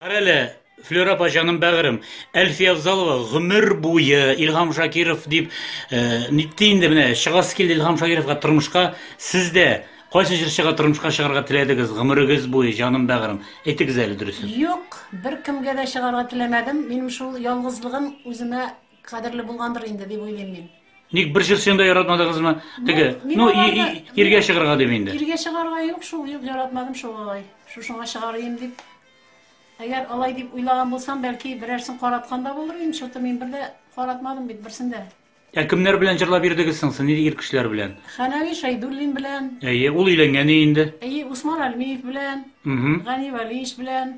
Карале, Флюр апа җаным бәгырем, Әлфия Авзалова гомер буе Илһам Шакиров дип э, нитте инде менә чыгасы килде Илһам Шакировка тормышка сез дә кайсы җырчыга тормышка чыгарга теләдегез гомерегез буе җаным бәгырем әйтегез әле дөресен Юк, бер кемгә дә чыгарга теләмәдем. Минем шул ялгызлыгым үземә Кадерле булгандыр инде, дип уйлыйм мин. Ник бер җырчыны да яратмадыгызмы? Теге, Мин ну, аларны- и- и- иргә чыгарга дим инде. Иргә чыгарга юк шул, юк, яратмадым шул алай. Шушыңа чыгарыйм дип. Әгәр алай дип уйлаган булсам, бәлки берәрсен караткан да булыр идем, чөнки мин бер дә каратмадым бит берсен дә. Ә кемнәр белән җырлап йөрдегез соң, сез, нинди ир кешеләр белән? Хәнәви Шәйдуллин белән, Әйе, ул өйләнгән инде. әйе, Усман Әлмиев белән, Мгм. Гани Вәлиевич белән,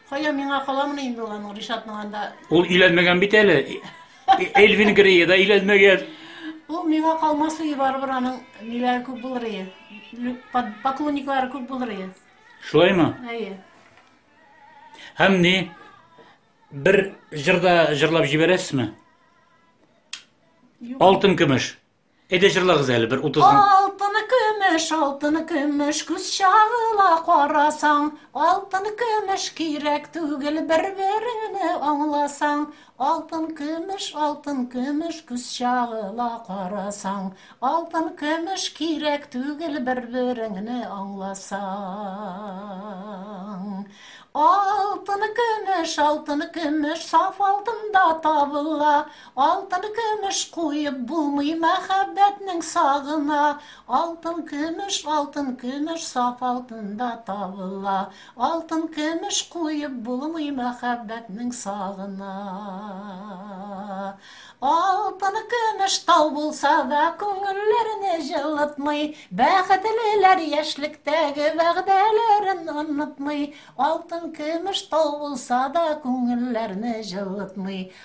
Кая миңа каламыни инде ул аның Ришатның анда. Ул өйләнмәгән бит әле. Эльвин Грей да өйләнмәгән. Ул миңа калмас ие барыбер аның ниләре күп булыр ие. Поклонниклары күп булыр ие. Шулаймы? Әйе. Һәм ни? Бер җырда җырлап җибәрәсезме? Алтын көмеш. Әйдә җырлагыз әле бер утыз гына. Алтыны көмеш, алтыны көмеш, күз чагыла карасаң. Алтын көмеш кирәк түгел, бер-береңне аңласаң. Алтын көмеш, алтын көмеш, күз чагыла карасаң. Алтын көмеш кирәк түгел, бер-береңне аңласаң. Алтыны көмеш, алтыны көмеш, саф алтын да табыла. Алтын көмеш куеп булмый мәхәббәтнең сагына, Алтын көмеш, алтын көмеш саф алтын да табыла, Алтын көмеш куеп булмый мәхәббәтнең сагына. Алтын көмеш тау булса да күңелләрне җылытмый, Бәхетлеләр яшьлектәге вәгъдәләрен онытмый, Алтын көмеш тау булса да күңелләрне җылытмый,